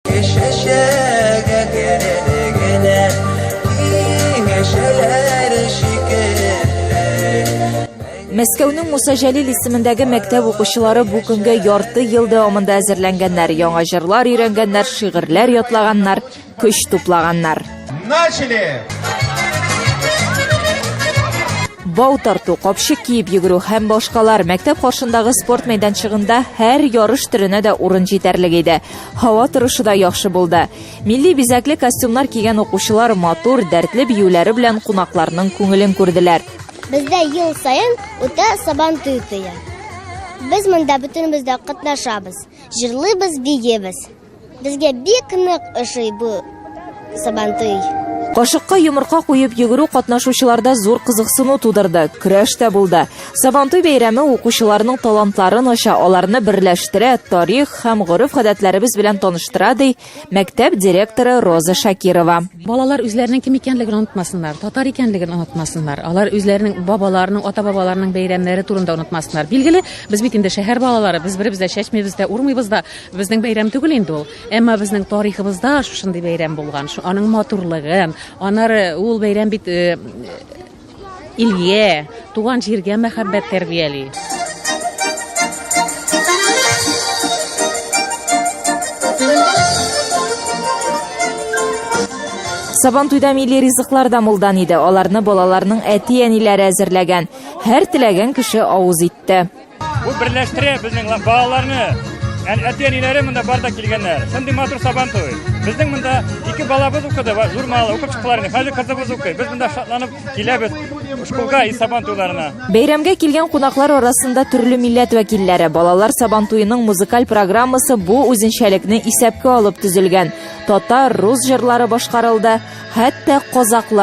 Кешешәгә керелегенә киңәшәләр шикелле. Мәскәүнең Муса Җәлил исемендәге мәктәп укучылары бу көнгә ярты ел дәвамында әзерләнгәннәр, яңа җырлар өйрәнгәннәр, шигырьләр ятлаганнар. Көч туплаганнар. Начали! бау тарту капчык киеп йөгерү һәм башкалар мәктәп каршындагы спорт мәйданчыгында һәр ярыш төренә дә урын җитәрлек иде һава торышы да яхшы булды милли бизәкле костюмнар кигән укучылар матур дәртле биюләре белән кунакларның күңелен күрделәр бездә ел саен үтә сабан туе без монда бөтенебез дә катнашабыз җырлыйбыз биебез Безгә бик нык ошый бу сабантуй. Кашыкка йомырка куеп йөгерү катнашучыларда зур кызыксыну тудырды, көрәш тә булды. Сабантуй бәйрәме укучыларның талантларын ача, аларны берләштерә, тарих һәм гореф-гадәтләребез белән таныштыра, ди мәктәп директоры Роза Шакирова. Балалар үзләренең кем икәнлеген онытмасыннар, татар икәнлеген онытмасыннар. Алар үзләренең бабаларының, ата-бабаларының бәйрәмнәре турында онытмасыннар. Билгеле, без бит инде шәһәр балалары, без беребез дә чәчмибез дә, урмыйбыз да. Безнең бәйрәм түгел инде ул, әмма безнең тарихыбызда шушындый бәйрәм булган, шу аның матурлыгын, аннары ул бәйрәм бит э, илгә, туган җиргә мәхәббәт тәрбияли. Сабан туйда милли ризыклар да мулдан иде. Аларны балаларның әти-әниләре әзерләгән. Һәр теләгән кеше авыз итте. Бу берләштерә безнең балаларны. Һәм әти-әниләре монда бар да килгәннәр. Шундый матур сабан туй. Безнең монда ике балабыз укыды, журналы укып чыктылар. Хәзер кызыбыз укый. Без монда шатланып киләбез школга и сабан туйларына. Бәйрәмгә килгән кунаклар арасында төрле милләт вәкилләре, балалар сабан туеның музыкаль программасы бу үзенчәлекне исәпкә алып төзелгән. Татар, рус җырлары башкарылды, хәтта казаклар